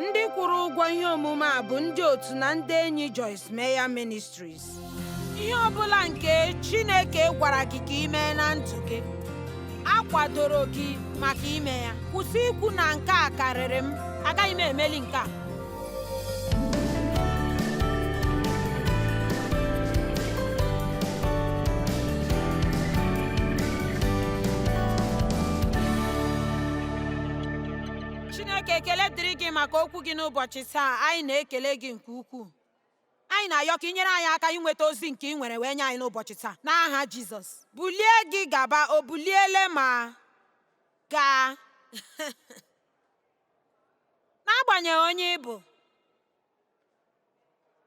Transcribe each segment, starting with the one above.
ndị kwụrụ ụgwọ ihe omume a bụ ndị otu na ndị enyi Joyce Meyer Ministries ihe ọ bụla nke Chineke gwara gị ka ị mee na ndụ gị a kwadoro gị maka ime ya kwụsị ikwu na nke a karịrị m agaghị m emeli nke a Chineke ekele dịrị gị maka okwu gị n'ụbọchị taa anyị na-ekele gị nke ukwuu anyị na-ayọ ka ị nyere anyị aka inweta ozi nke ị nwere wee nye anyị n'ụbọchị taa n'aha Jizọs bulie gị gaba o buliele ma gaa n'agbanyeghị onye ị bụ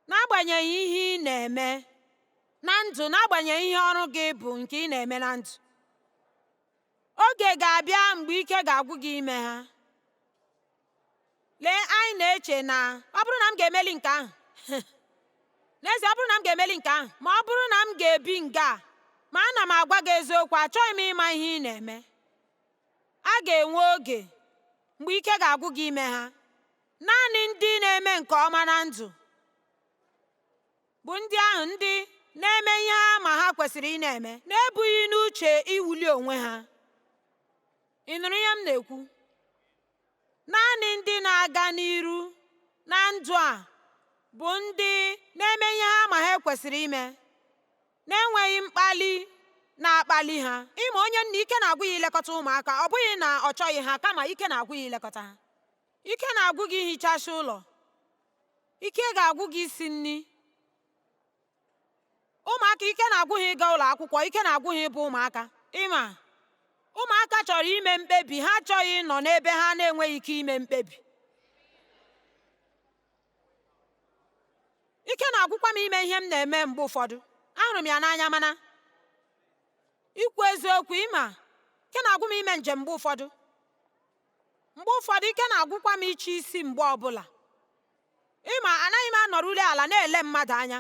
n'agbanyeghị ihe ị na-eme na ndụ n'agbanyeghị ihe ọrụ gị bụ nke ị na-eme na ndụ oge ga-abịa mgbe ike ga-agwụ gị ime ha lee anyị na-eche na ọ bụrụ na m ga-emeli nke ahụ n'ezie ọ bụrụ na m ga-emeli nke ahụ ma ọ bụrụ na m ga-ebi nga ma ana m agwa gị eziokwu achọghị m ịma ihe ị na-eme A ga-enwe oge mgbe ike ga-agwụ gị ime ha. Naanị ndị na-eme nke ọma na ndụ bụ ndị ahụ ndị na-eme ihe ha ma ha kwesịrị ịna-eme na-ebughị n'uche iwuli onwe ha. Ị nụrụ ihe m na-ekwu? Naanị ndị na-aga n'iru na ndụ a bụ ndị na-eme ihe ha ma ha kwesịrị ime. na-enweghị mkpali na-akpali ha ịma onye nne ike na-agwụ ya ilekọta ụmụaka ọ bụghị na ọ chọghị ha kama ike na-agwụ ya ilekọta ha ike na-agwụ gị ihichasị ụlọ ike ga-agwụ gị isi nri ụmụaka ike na-agwụ ha ịga ụlọ akwụkwọ ike na-agwụ ha ịbụ ụmụaka ịma ụmụaka chọrọ ime mkpebi ha achọghị ịnọ n'ebe ha na-enweghị ike ime mkpebi ike na-agwụkwa m ime ihe m na-eme mgbe ụfọdụ ahụrụ m ya n'anya mana ikwu eziokwu ịma ike na-agwụ m ime njem mgbe ụfọdụ mgbe ụfọdụ ike na-agwụkwa m iche isi mgbe ọbụla ịma anaghị m anọrụli ala na-ele mmadụ anya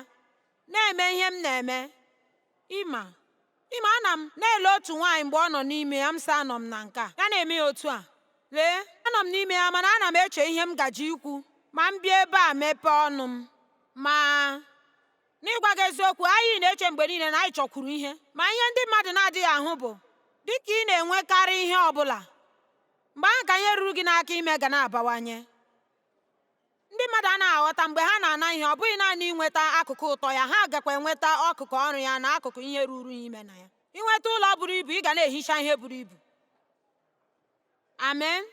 na-eme ihe m na-eme ịma Ịma, ana m na-ele otu nwaanyị mgbe ọ nọ n'ime ya, m sị anọ m na nke a, ya na-eme ya otu a. Lee, anọ m n'ime ya mana ana m eche ihe m gaji ikwu ma m bịa ebe a mepee ọnụ m. Ma n'ịgwa gị eziokwu, anyị na-eche mgbe niile na anyị chọkwuru ihe, ma ihe ndị mmadụ na-adịghị ahụ bụ dị ka ị na-enwekarị ihe ọ bụla, mgbe ahụ ka ihe ruru gị n'aka ime ga na-abawanye. Ndị mmadụ anaghị aghọta mgbe ha na-ana ihe ọ bụghị naanị inweta akụkụ ụtọ ya ha gakwa enweta akụkụ ọrụ ya na akụkụ ihe ruru ya ime na ya inweta ụlọ buru ibu ị ga na-ehicha ihe buru ibu amen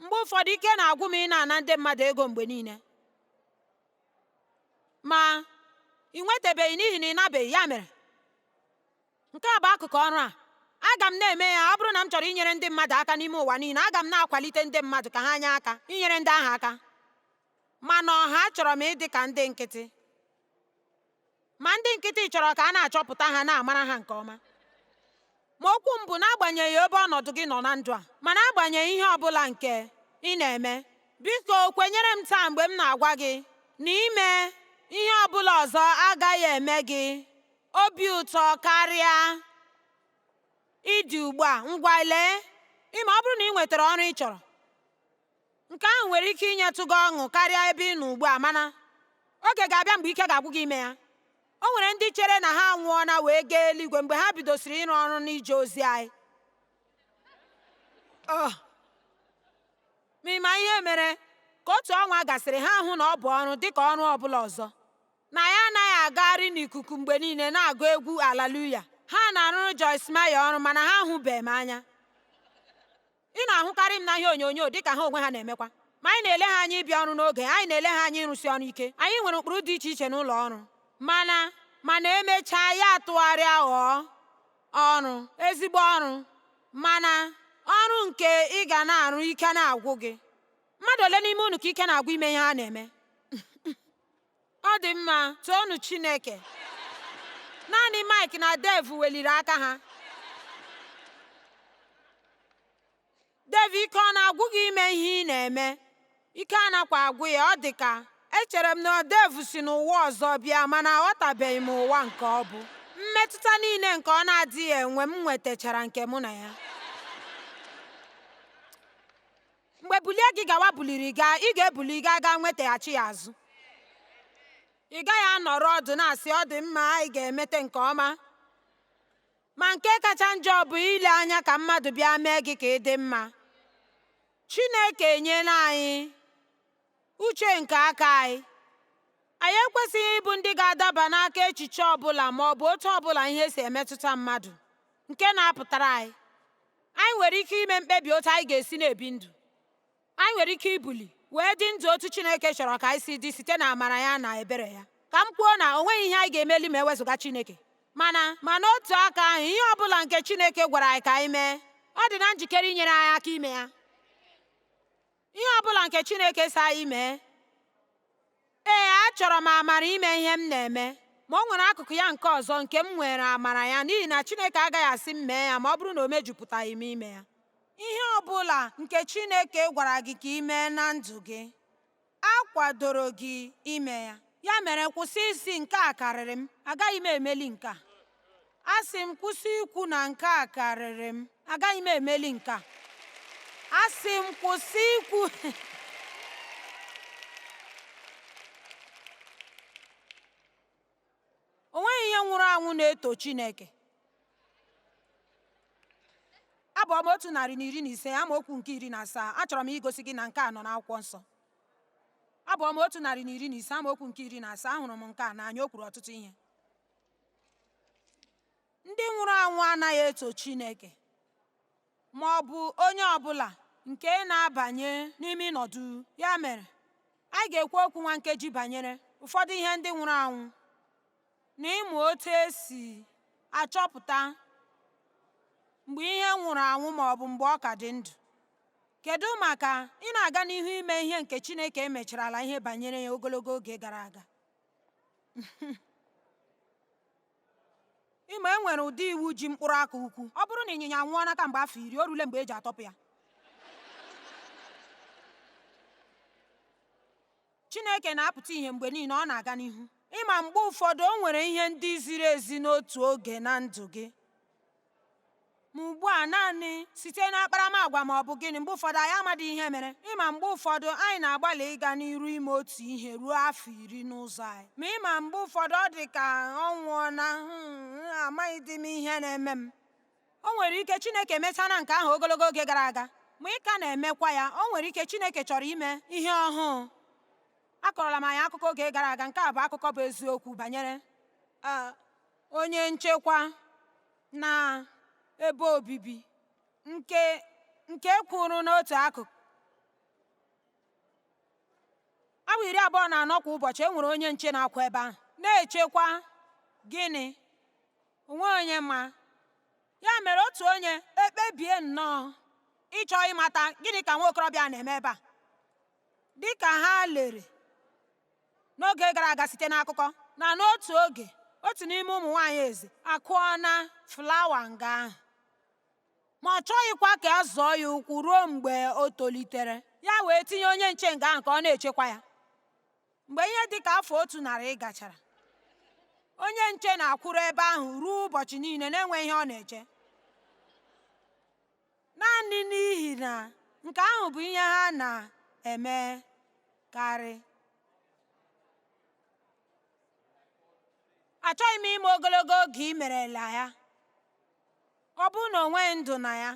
mgbe ụfọdụ ike na-agwụ m ịna-ana ndị mmadụ ego mgbe niile ma ị nwetabeghị n'ihi na ị nabeghị ya mere Nke a bụ akụkụ ọrụ a. Aga m na-eme ya, ọ bụrụ na m chọrọ inyere ndị mmadụ aka n'ime ụwa niile, aga m na-akwalite ndị mmadụ ka ha nye aka, inyere ndị ahụ aka. Ma n'ọha achọrọ m ịdị ka ndị nkịtị. Ma ndị nkịtị chọrọ ka a na-achọpụta ha, na-amara ha nke ọma. Ma okwu m bụ n'agbanyeghị ebe ọnọdụ gị nọ na ndụ a, ma n'agbanyeghị ihe ọ bụla nke ị na-eme, biko kwenyere m taa mgbe m na-agwa gị na ime ihe ọ bụla ọzọ agaghị eme gị obi ụtọ karịa ị dị ugbu a ngwa lee ị ma ọ bụrụ na ị nwetara ọrụ ị chọrọ nke ahụ nwere ike inyetụ gị ọṅụ karịa ebe ị nọ ugbu a mana oge ga-abịa mgbe ike ga-agwụ gị ime ya o nwere ndị chere na ha anwụọna wee gaa eluigwe mgbe ha bidosiri ịrụ ọrụ n'ije ozi anyị oh. ma ị ma ihe mere ka otu ọnwa gasịrị ha ahụ na ọ bụ ọrụ dịka ọrụ ọbụla ọzọ na anyị anaghị agagharị n'ikuku mgbe niile na-agụ egwu alaluya ha na-arụrụ Joyce Meyer ọrụ mana ha ahụbeghị m anya ị na-ahụkarị m na ihe onyonyo dị ka ha onwe ha na-emekwa ma anyị na-ele ha anya ịbịa ọrụ n'oge anyị na-ele ha anya ịrụsi ọrụ ike anyị nwere ụkpụrụ dị iche iche n'ụlọ ọrụ mana mana emechaa ya atụgharịa ghọọ ọrụ ezigbo ọrụ mana ọrụ nke ị ga na-arụ ike na-agwụ gị mmadụ ole n'ime unu ka ike na-agwụ ime ihe ha na-eme Ọ dị mma, toonu Chineke. Naanị Mike na Dave weliri aka ha. Dave, ike ọ na-agwụ gị ime ihe ị na-eme? Ike anakwa agwụ ya, ọ dị ka echere m na Dave si n'ụwa ọzọ bịa mana aghọtabeghị m ụwa nke ọ bụ. Mmetụta niile nke ọ na-adịghị enwe m nwetachara nke mụ na ya. mgbe bulie gị gawa buliri gaa ị ga-ebuli gaa gaa nwetaghachi ya azụ ị gaghị anọrọ ọdụ na-asị ọ dị mma anyị ga-emete nke ọma ma nke kacha njọ bụ ile anya ka mmadụ bịa mee gị ka ị dị mma Chineke enyela anyị uche nke aka anyị anyị ekwesịghị ịbụ ndị ga-adaba n'aka echiche ọbụla ma ọ bụ otu ọbụla ihe si emetụta mmadụ nke na-apụtara anyị Anyị nwere ike ime mkpebi otu anyị ga-esi na-ebi ndụ. Anyị nwere ike ibuli wee dị ndụ otu Chineke chọrọ ka anyị si dị site na amara ya na ebere ya. Ka m kwuo na o nweghị ihe anyị ga-emeli ma ewezụga Chineke. Mana ma n'otu aka ahụ, ihe ọ bụla nke Chineke gwara anyị ka anyị mee, ọ dị na njikere inyere anyị aka ime ya. Ihe ọ bụla nke Chineke sị anyị mee. Ee, achọrọ m amara ime ihe m na-eme, ma o nwere akụkụ ya nke ọzọ nke m nwere amara ya n'ihi na Chineke agaghị asị m mee ya ma ọ bụrụ na o mejupụtaghị m ime ya. Ihe ọ bụla nke Chineke gwara gị ka i mee na ndụ gị, a kwadoro gị ime ya. Ya mere, kwụsị ịsị nke a karịrị m, agaghị m emeli nke a. asị m kwụsị ikwu na nke a karịrị m agaghị m emeli nke a asị m kwụsị ikwu o nweghị ihe nwụrụ anwụ na-eto Chineke abụ ọma otu narị na iri na ise amaokwu nke iri na asaa achọrọ m igosi gị na nke a nọ n'akwụkwọ nsọ abụ ọma otu narị na iri na ise amaokwu nke iri na asaa ahụrụ m nke a n'anya o kwuru ọtụtụ ihe ndị nwụrụ anwụ anaghị eto Chineke ma ọ bụ onye ọ bụla nke na-abanye n'ime ịnọ duu ya mere anyị ga-ekwu okwu nwa nkeji banyere ụfọdụ ihe ndị nwụrụ anwụ na ịmụ otu e si achọpụta mgbe ihe nwụrụ anwụ ma ọ bụ mgbe ọ ka dị ndụ kedu maka ị na-aga n'ihu ime ihe nke Chineke emecharala ihe banyere ya ogologo oge gara aga ị ma e nwere ụdị iwu ji mkpụrụ aka ukwu ọ bụrụ na ịnyịnya anwụọna kamgbe afọ iri o rule mgbe e ji atọpụ ya chineke na-apụta ihe mgbe niile ọ na-aga n'ihu ị ma mgbe ụfọdụ o nwere ihe ndị ziri ezi n'otu oge na ndụ gị ma ugbu a naanị site n'akparamagwa ma ọ bụ gịnị mgbe ụfọdụ anyị amadị ihe mere ị ma mgbe ụfọdụ anyị na-agbalị ịga n'iru ime otu ihe ruo afọ iri n'ụzọ anyị ma ị ma mgbe ụfọdụ ọ dị ka ọ nwụọna hmm, amaghịdị m ihe na-eme m o nwere ike chineke emechana nke ahụ ogologo oge gara aga ma ị ka na-emekwa ya o nwere ike chineke chọrọ ime ihe ọhụụ akọrọla m anyị akụkọ oge gara aga nke a bụ akụkọ bụ eziokwu banyere ah, onye nchekwa na ebe obibi nke nke kwụrụ n'otu akụkụ awa iri abụọ na anọ kwa ụbọchị e nwere onye nche na-akwụ ebe ahụ na-echekwa gịnị o nwe onye ma ya mere otu onye ekpebie nnọọ ịchọ ịmata gịnị ka nwa okorobịa na-eme ebe a dịka ha lere n'oge gara aga site n'akụkọ na n'otu oge otu n'ime ụmụ nwaanyị eze akụọ na flawa nga ahụ ma ọ chọghịkwa ka a zọọ ya ụkwụ ruo mgbe o tolitere ya wee tinye onye nche nga ahụ ka ọ na-echekwa ya mgbe ihe dị ka afọ otu narị gachara onye nche na-akwụrụ ebe ahụ ruo ụbọchị niile na-enweghị ihe ọ na-eche naanị n'ihi na nke ahụ bụ ihe ha na-emekarị. Achọghị m ịma ogologo oge i merela ya. Ọ bụrụ na o nweghị ndụ na ya,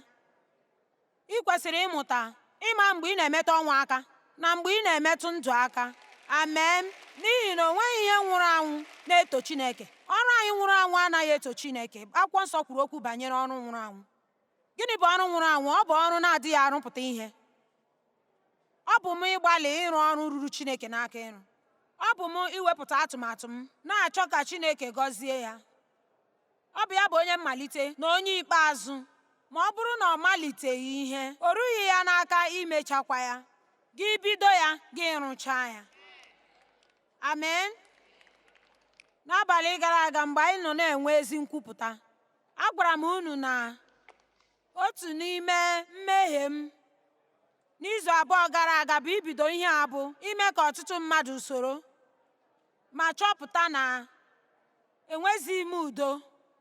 ị kwesịrị ịmụta ịma mgbe ị na-emetụ ọnwụ aka na mgbe ị na-emetụ ndụ aka. Amen. N'ihi na o nweghị ihe nwụrụ anwụ na-eto Chineke. Ọrụ anyị nwụrụ anwụ anaghị eto Chineke. Akwụkwọ Nsọ kwuru okwu banyere ọrụ nwụrụ anwụ. Gịnị bụ ọrụ nwụrụ anwụ? Ọ bụ ọrụ na-adịghị arụpụta ihe. Ọ bụ m ịgbalị ịrụ ọrụ ruru Chineke n'aka ịrụ. Ọ bụ m iwepụta atụmatụ m, na-achọ ka Chineke gọzie ya. Ọ bụ ya bụ onye mmalite na onye ikpeazụ. Ma ọ bụrụ na ọ maliteghị ihe, o rughị ya n'aka imechakwa ya. Gị bido ya, gị rụchaa ya. Amen. N'abalị gara aga mgbe anyị nọ na-enwe ezi nkwupụta, agwara m unu na otu n'ime mmehie m n'izu abụọ gara aga bụ ibido ihe a bụ ime ka ọtụtụ mmadụ soro ma chọpụta na enwezighị m udo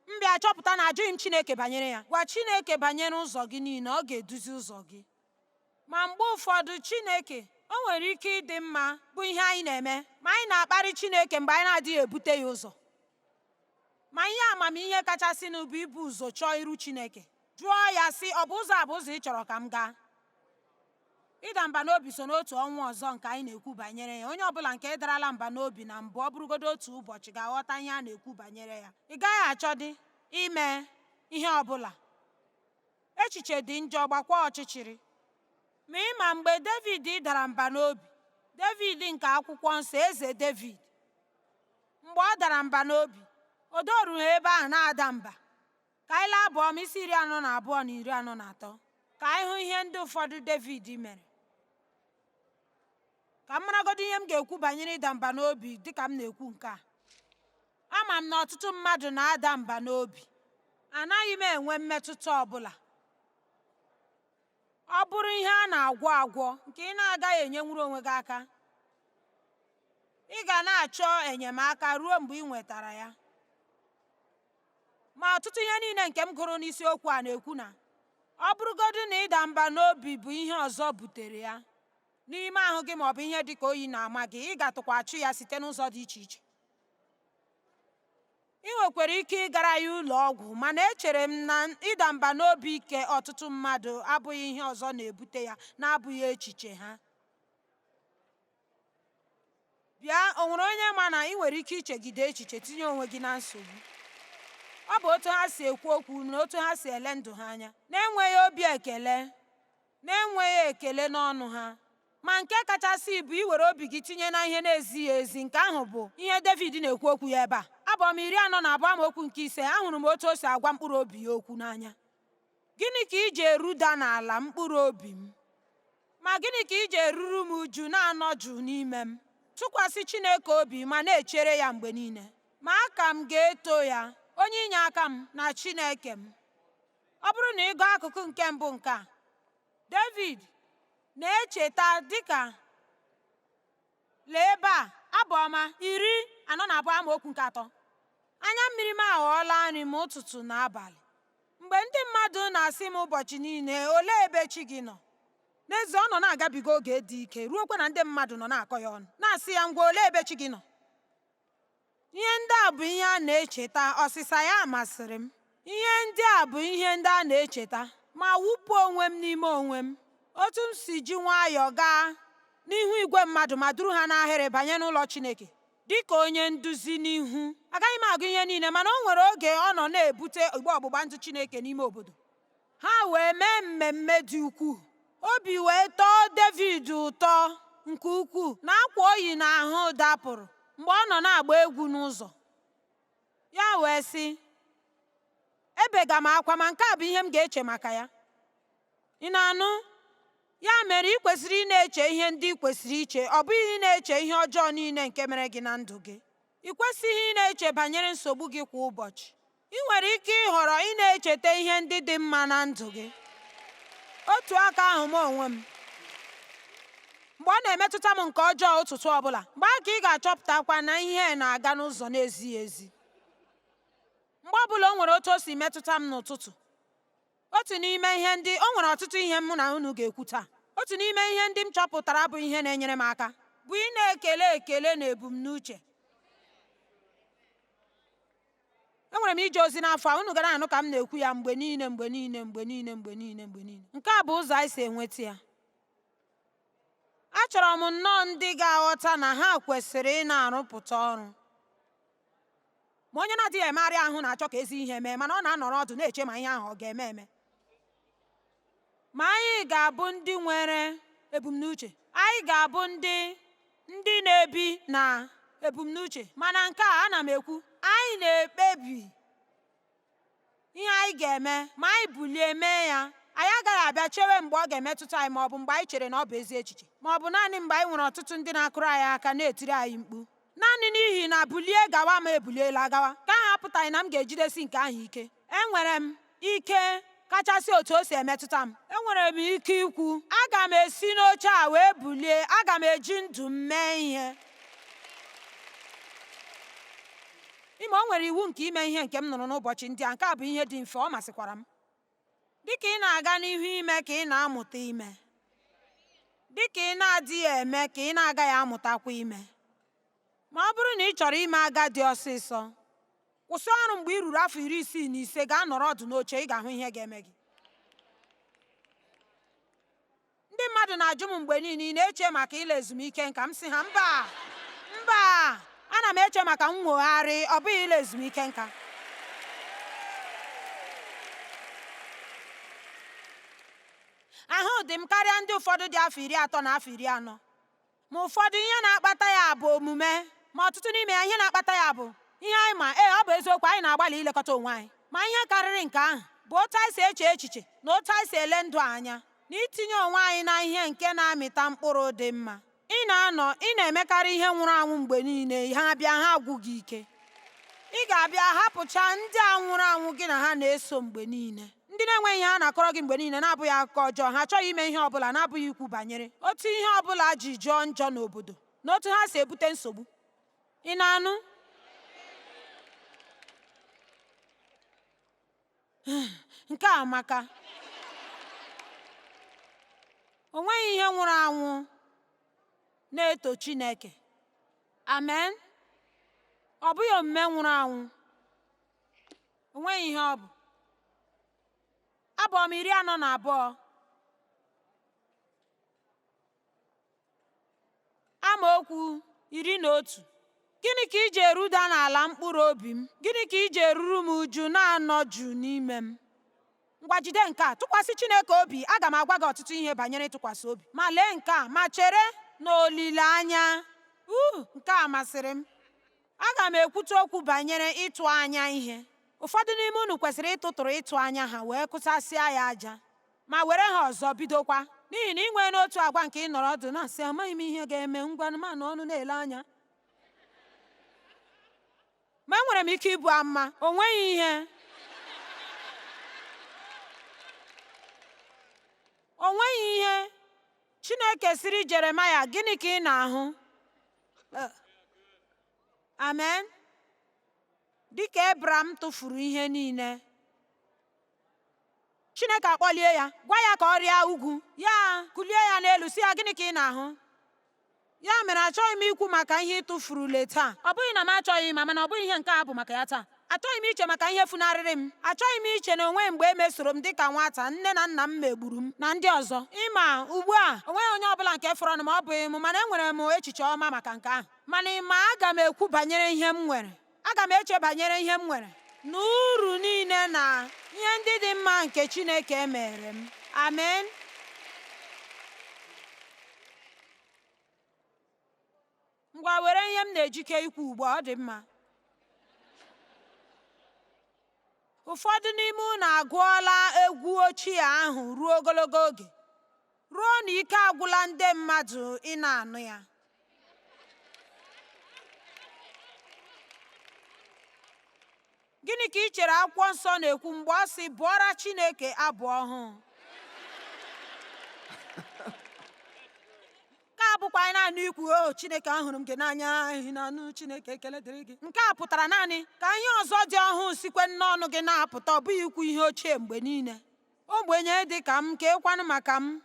m bịa chọpụta na ajụghị m Chineke banyere ya gwa Chineke banyere ụzọ gị niile ọ ga-eduzi ụzọ gị ma mgbe ụfọdụ Chineke o nwere ike ịdị mma bụ ihe anyị na-eme ma anyị na-akparị Chineke mgbe anyị na-adịghị ebute ya ụzọ Ma ihe amamihe kachasịnụ bụ ibu ụzọ chọọ iru Chineke, jụọ ya sị, ọ bụ ụzọ a bụ ụzọ ị chọrọ ka m gaa? Ịda mba n'obi so n'otu ọnwụ ọzọ nke anyị na-ekwu banyere ya. Onye ọ bụla nke darala mba n'obi na mbụ ọ bụrụgodo otu ụbọchị ga-aghọta ihe a na-ekwu banyere ya. Ị gaghị achọdị ime ihe ọ bụla. Echiche dị njọ, gbakwa ọchịchịrị. Ma ị ma mgbe Devid dara mba n'obi, Devid nke akwụkwọ nsọ, Eze Devid, mgbe ọ dara mba n'obi o dorughị ebe ahụ na-ada mba ka anyị lee Abụ Ọma isi iri anọ na abụọ na iri anọ na atọ ka anyị hụ ihe ndị ụfọdụ Devid mere ka m maragodo ihe m ga-ekwu banyere ịda mba n'obi dịka m na-ekwu nke a ama m na ọtụtụ mmadụ na-ada mba n'obi anaghị m enwe mmetụta ọbụla ọ bụrụ ihe a na-agwọ agwọ nke ị na-agaghị enyenwuru onwe gị aka ị ga na-achọ enyemaka ruo mgbe ị nwetara ya ma ọtụtụ ihe niile nke m gụrụ n'isiokwu a na-ekwu na ọ bụrụgodu na ịda mba n'obi bụ ihe ọzọ butere ya n'ime ahụ gị maọbụ ihe dị ka oyi na-ama gị ị gatụkwa achụ ya site n'ụzọ dị iche iche ị nwekwara ike ịgara ya ụlọ ọgwụ mana echere m na ịda mba n'obi nke ọtụtụ mmadụ abụghị ihe ọzọ na-ebute ya na-abụghị echiche ha bịa o nwere onye ma na ị nwere ike ichegide echiche tinye onwe gị na nsogbu ọ bụ otu ha si ekwu okwu na otu ha si ele ndụ ha anya na-enweghị obi ekele na-enweghị ekele n'ọnụ ha. Ma nke kachasị bụ iwere obi gị tinye na ihe na-ezighị ezi, nke ahụ bụ ihe Devid na-ekwu okwu ya ebe a. Abụ ọma iri anọ na abụọ amaokwu nke ise ahụrụ m otu o si agwa mkpụrụ obi ya okwu n'anya. Gịnị ka i ji eruda n'ala mkpụrụ obi m? Ma gịnị ka i ji eruru m uju na-anọ jụụ n'ime m? Tụkwasị Chineke obi ma na-echere ya mgbe niile, ma aka m ga-eto ya, onye inyeaka m na Chineke m. Ọ bụrụ na ị gụọ akụkụ nke mbụ nke a, Devid na-echeta dịka lee ebe a abụ ọma iri anọ na abụọ amaokwu nke atọ anya mmiri m aghọọla nri m ụtụtụ na abalị mgbe ndị mmadụ na-asị m ụbọchị niile olee ebe chi gị nọ n'ezie ọ nọ na-agabiga oge dị ike ruokwa na ndị mmadụ nọ na-akọ ya ọnụ na-asị ya ngwa olee ebe chi gị nọ Ihe ndị a bụ ihe a na-echeta, ọsịsa ya masịrị m. Ihe ndị a bụ ihe ndị a na-echeta, ma wụpụ onwe m n'ime onwe m. Otu m si ji nwayọọ gaa n'ihu igwe mmadụ ma duru ha n'ahịrị banye n'ụlọ Chineke dị ka onye nduzi n'ihu. Agaghị m agụ ihe niile, mana o nwere oge ọ nọ na-ebute igbe ọgbụgba ndụ Chineke n'ime obodo. ha wee mee mmemme dị ukwuu obi wee tọọ Devid ụtọ nke ukwuu na akwa o yi n'ahụ dapụrụ mgbe ọ nọ na-agba egwu n'ụzọ ya wee sị ebega m akwa ma nke a bụ ihe m ga-eche maka ya ị na-anụ ya mere ị kwesịrị ịna-eche ihe ndị ị kwesịrị iche ọ bụghị ịna-eche ihe ọjọọ niile nke mere gị na ndụ gị Ị kwesịghị ịna-eche banyere nsogbu gị kwa ụbọchị. Ị nwere ike ịhọrọ ịna-echeta ihe ndị dị mma na ndụ gị. Otu aka ahụ m onwe m mgbe ọ na-emetụta m nke ọjọọ ụtụtụ ọbụla mgbe ahụ ka ị ga-achọpụtakwa na ihe na-aga n'ụzọ na-ezighị ezi mgbe ọbụla o nwere otu o si metụta m n'ụtụtụ otu n'ime ihe ndị o nwere ọtụtụ ihe mụ na unu ga-ekwu taa otu n'ime ihe ndị m chọpụtara bụ ihe na-enyere m aka bụ ị na-ekele ekele na ebumnuche enwere m ije ozi n'afọ a unu ga na-anụ ka m na-ekwu ya mgbe niile mgbe niile mgbe niile mgbe niile mgbe niile nke a bụ ụzọ anyị si enweta ya achọrọ m nnọọ ndị ga-aghọta na ha kwesịrị ị na-arụpụta ọrụ ma onye na-adịghị emegharị ahụ na-achọ ka ezi ihe mee mana ọ na-anọrọ ọdụ na-eche ma ihe ahụ ọ ga-eme eme ma anyị ga-abụ ndị nwere ebumnuche anyị ga-abụ ndị na-ebi na ebumnuche mana nke a ana m ekwu anyị na-ekpebi ihe anyị ga-eme ma anyị bulie mee ya anyị agaghị abịa chewe mgbe ọ ga-emetụta anyị ma ọ bụ mgbe anyị chere na ọ bụ ezi echiche ma ọ bụ naanị mgbe anyị nwere ọtụtụ ndị na-akụrụ anyị aka na-etiri anyị mkpu naanị n'ihi na bulie gawa m ebuliela gawa nke ahụ apụtaghị na m ga-ejidesi nke ahụ ike enwere m ike kachasị otu o si emetụta m enwere m ike ikwu aga m esi n'oche a wee bulie aga m eji ndụ m mee ihe Ị ma o nwere iwu nke ime ihe nke m nụrụ n'ụbọchị ndị a, nke a bụ ihe dị mfe, ọ masịkwara m. Dị ka ị na-aga n'ihu ime ka ị na-amụta ime, dị ka ị na-adịghị eme ka ị na-agaghị amụtakwa ime. Ma ọ bụrụ na ị chọrọ ime agadi ọsịsọ, kwụsị ọrụ mgbe i ruru afọ iri isii na ise, gaa nọrọ ọdụ n'oche, ị ga-ahụ ihe ga-eme gị. Ndị mmadụ na-ajụ m mgbe niile ị na-eche maka ịla ezumike nka m sị ha mba mba ana m eche maka nnwogharị ọ bụghị ịla ezumike nka ahụ dị m karịa ndị ụfọdụ dị afọ iri atọ na afọ iri anọ ma ụfọdụ ihe na-akpata ya bụ omume ma ọtụtụ n'ime ya ihe na-akpata ya bụ ihe anyị ma ee ọ bụ eziokwu anyị na-agbalị ilekọta onwe anyị ma ihe karịrị nke ahụ bụ otu anyị si eche echiche na otu anyị si ele ndụ anya na itinye onwe anyị na ihe nke na-amịta mkpụrụ dị mma ị na-anọ ị na-emekarị ihe nwụrụ anwụ mgbe niile ha bịa ha agwụ gị ike ị ga-abịa hapụcha ndị a nwụrụ anwụ gị na ha na-eso mgbe niile ndị na-enweghị ihe ha na-akọrọ gị mgbe niile na-abụghị akụkọ ọjọọ ha achọghị ime ihe ọbụla na-abụghị ikwu banyere otu ihe ọbụla ji jọọ njọ n'obodo na otu ha si ebute nsogbu ị na-anụ nke a amaka o nweghị ihe nwụrụ anwụ na-eto Chineke amen ọ bụghị omume nwụrụ anwụ o nweghị ihe ọ bụ Abụ Ọma iri anọ na abụọ amaokwu iri na otu gịnị ka i ji eruda n'ala mkpụrụ obi m gịnị ka i ji eruru m uju na-anọ jụụ n'ime m ngwa jide nke a tụkwasị Chineke obi aga m agwa gị ọtụtụ ihe banyere ịtụkwasị obi ma lee nke a ma chere n'olileanya uu nke a masịrị m Aga m ekwute okwu banyere ịtụ anya ihe. Ụfọdụ n'ime unu kwesịrị ịtụtụrụ ịtụ anya ha wee kụsasịa ya aja ma were ha ọzọ bidokwa n'ihi na ị nwee n'otu agwa nke ịnọrọ ọdụ na-asị amaghị m ihe ga-eme ngwanụ m anọnụ na-ele anya ma enwere m ike ibu amụma o nweghị ihe o nweghị ihe Chineke sịrị Jeremaya gịnị ka ị na-ahụ Eh. amen dịka ebram tụfuru ihe niile chineke akpọlie ya gwa ya ka ọ rịa ugwu ya kulie ya n'elu sị ya gịnị ka ị na-ahụ ya mere achọghị m ikwu maka ihe ị tụfurule taa ọ bụghị na m achọghị ma mana ọ bụghị ihe nke a bụ maka ya taa Achọghị m iche maka ihe funarịrị m. Achọghị m iche na o nweghị mgbe e mesoro m dịka nwata, nne na nna m megburu m, na ndị ọzọ. Ị ma, ugbu a, o nweghị onye ọ bụla nke fọrọnụ ma ọ bụghị m, mana enwere m echiche ọma maka nke ahụ. Mana ị ma, aga m ekwu banyere ihe m nwere. Aga m eche banyere ihe m nwere na uru niile na ihe ndị dị mma nke Chineke meere m. Amen. ngwa were ihe m na-ejike ikwu ugbu a ọ dị mma ụfọdụ n'ime unu agụọla egwu ochie ahụ ruo ogologo oge ruo na ike agwụla ndị mmadụ ịna-anụ ya Gịnị ka i chere akwụkwọ nsọ na-ekwu mgbe ọ sị bụọra Chineke abụ ọhụụ? Nke a bụkwa naanị ikwu o oh, Chineke ahụrụ m gị n'anya ehi na anụ Chineke ekele dịrị gị. Nke a pụtara naanị ka ihe ọzọ dị ọhụụ sikwe n'ọnụ gị na-apụta ọ bụghị ikwu ihe ochie mgbe niile. Ogbenye dị ka m kekwanụ maka m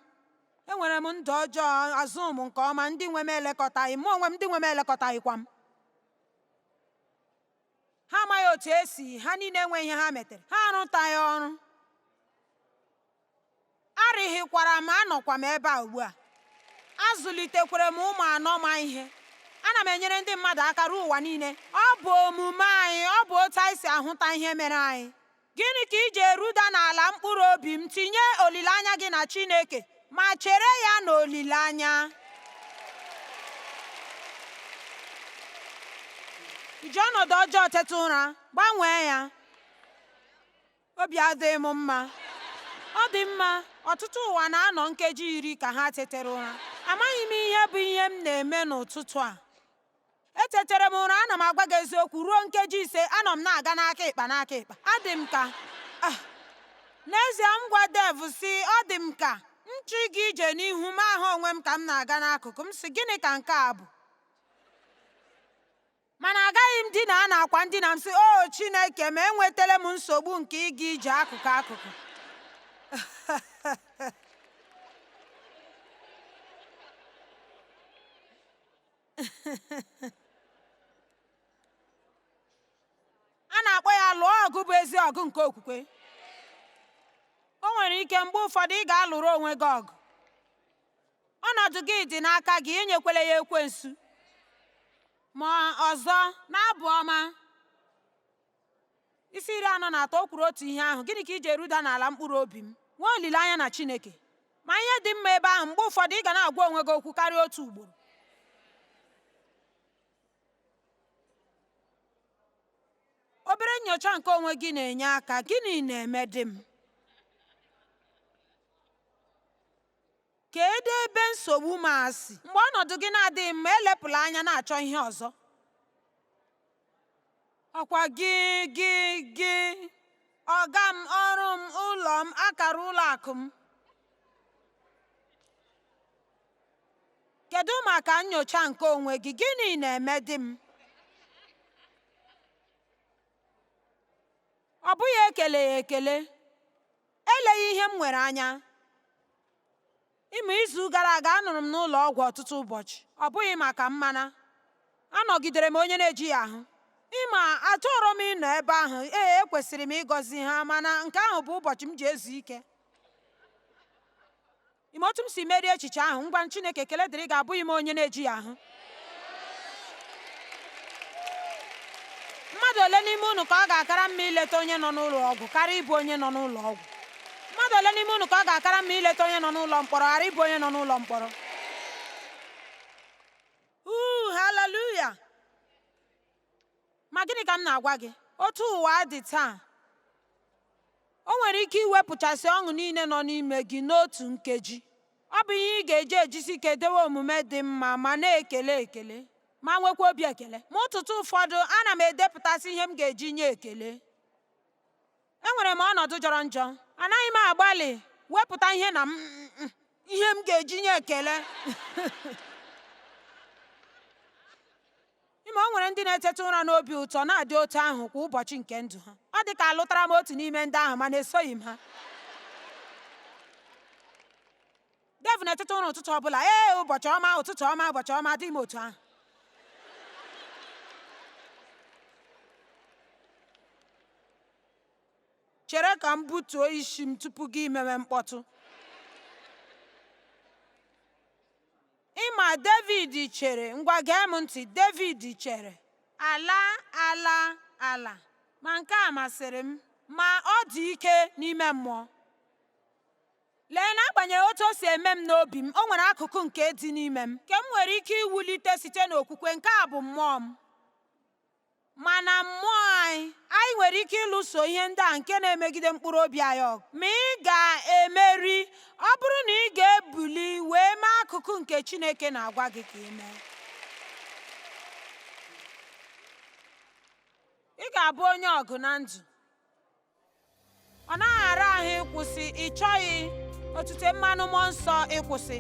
enwere m ndụ ọjọọ azụ m nke ọma ndị nwe m elekọtaghị m onwe m ndị nwe m elekọtaghịkwa m ha amaghị otu e si ha niile nwe ihe ha metere ha arụtaghị ọrụ arịghịkwara m anọkwa m ebe a ugbu a azụlitekwere m ụmụ anọ ma ihe ana m enyere ndị mmadụ aka ruo ụwa niile ọ bụ omume anyị ọ bụ otu anyị si ahụta ihe mere anyị Gịnị ka i ji eruda n'ala mkpụrụ obi m? Tinye olileanya gị na Chineke ma chere ya n'olileanya. I ji ọnọdụ ọjọọ teta ụra, gbanwee ya. Obi adịghị m mma. Ọ dị mma, ọtụtụ ụwa na-anọ nkeji iri ka ha tetere ụra. Amaghị m ihe bụ ihe m na-eme n'ụtụtụ a. etetere m ụra ana m agwa gị eziokwu ruo nkeji ise anọ m na-aga n'aka ịkpa n'aka ịkpa adị m ka ah, n'ezie m gwa Dave si ọ dị m ka m chọọ ịga ije n'ihu m ahụ onwe m ka m na-aga n'akụkụ m si gịnị ka nke a bụ mana agaghị m dina n'akwa ndina m si o oh, chineke ma enwetala m nsogbu nke ịga ije akụkụ akụkụ a na-akpọ ya lụọ ọgụ bụ ezi ọgụ nke okwukwe o nwere ike mgbe ụfọdụ ị ga-alụrụ onwe gị ọgụ ọnọdụ gị dị n'aka gị enyekwala ya ekwensu ma ọzọ n'abụ ọma isi iri anọ na atọ o kwuru otu ihe ahụ gịnị ka i ji eruda n'ala mkpụrụ obi m nwee olileanya na Chineke ma ihe dị mma ebe ahụ mgbe ụfọdụ ị ga na-agwa onwe gị okwu karịa otu ugboro obere nyocha nke onwe gị na-enye aka gịnị na-emedị m kedu ebe nsogbu m a si mgbe ọnọdụ gị na-adịghị mma elepụla anya na-achọ ihe ọzọ ọ kwa gị gị gị ọga m ọrụ m ụlọ m akara ụlọ akụ m kedu maka nyocha nke onwe gị gịnị na-emedị m ọ bụghị ekeleghị ekele eleghị ihe m nwere anya Ị ma, izu gara aga anọrọ m n'ụlọ ọgwụ ọtụtụ ụbọchị, ọ bụghị maka m, mana anọgidere m onye na-ejighị ahụ. Ị ma, achọrọ m ịnọ ebe ahụ, ee, ekwesịrị m ịgọzi ha, mana nke ahụ bụ ụbọchị m ji ezu ike. Ị ma otu m si merie echiche ahụ, ngwa Chineke ekele dịrị gị abụghị m onye na-ejighị ahụ. mmadụ ole n'ime unu ka ọ ga-akara mma ileta onye nọ n'ụlọ ọgwụ karịa ịbụ onye nọ n'ụlọ ọgwụ mmadụ ole n'ime unu ka ọ ga-akara mma ileta onye nọ n'ụlọ mkpọrọ ghara ịbụ onye nọ n'ụlọ mkpọrọ uu haleluya ma gịnị ka m na-agwa gị otu ụwa dị taa o nwere ike iwepụchasị ọṅụ niile nọ n'ime gị n'otu nkeji Ọ bụ ihe ị ga-eji ejisi ike dewe omume dị mma ma na-ekele ekele ma nwekwa obi ekele. Ma ụtụtụ ụfọdụ, ana m edepụtasị ihe m ga-eji nye ekele. Enwere m ọnọdụ jọrọ njọ, anaghị m agbalị wepụta ihe na m ihe m ga-eji nye ekele Ịma o nwere ndị na-eteta ụra n'obi ụtọ na-adị otu ahụ kwa ụbọchị nke ndụ ha. Ọ dị ka alụtara m otu n'ime ndị ahụ mana esoghị m ha. Dave na-eteta ụra ụtụtụ ọ bụla ee ụbọchị ọma ụtụtụ ọma ụbọchị ọma adịghị m otu ahụ. Chere ka m butuo isi m tupu gị mewe mkpọtụ. Ịma Devid chere, ngwa gee m ntị, Devid chere, ala, ala, ala, ma nke a masịrị m, ma ọ dị ike n'ime mmụọ. Lee, n'agbanyeghị otu o si eme m n'obi m, o nwere akụkụ nke dị n'ime m nke m nwere ike iwulite site n'okwukwe, nke a bụ mmụọ m. Ma na mmụọ anyị, anyị nwere ike ịlụso ihe ndị a nke na-emegide mkpụrụ obi anyị ọgụ. Ma ị ga-emeri ọ bụrụ na ị ga-ebuli wee mee akụkụ nke Chineke na-agwa gị ka ị mee. Ị ga-abụ onye ọgụ na ndụ. ọ naghị ara ahụ ịkwụsị ị chọghị otute mmanụ mmụọ nsọ ịkwụsị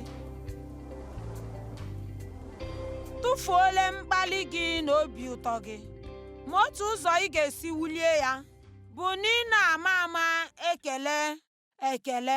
tụfuole mkpali gị na obi ụtọ gị ma otu ụzọ ị ga-esi wulie ya bụ n'ịna-ama ama ekele ekele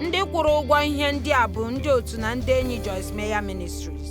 Ndị kwụrụ ụgwọ ihe ndị a bụ ndị otu na ndị enyi Joyce Meyer Ministries.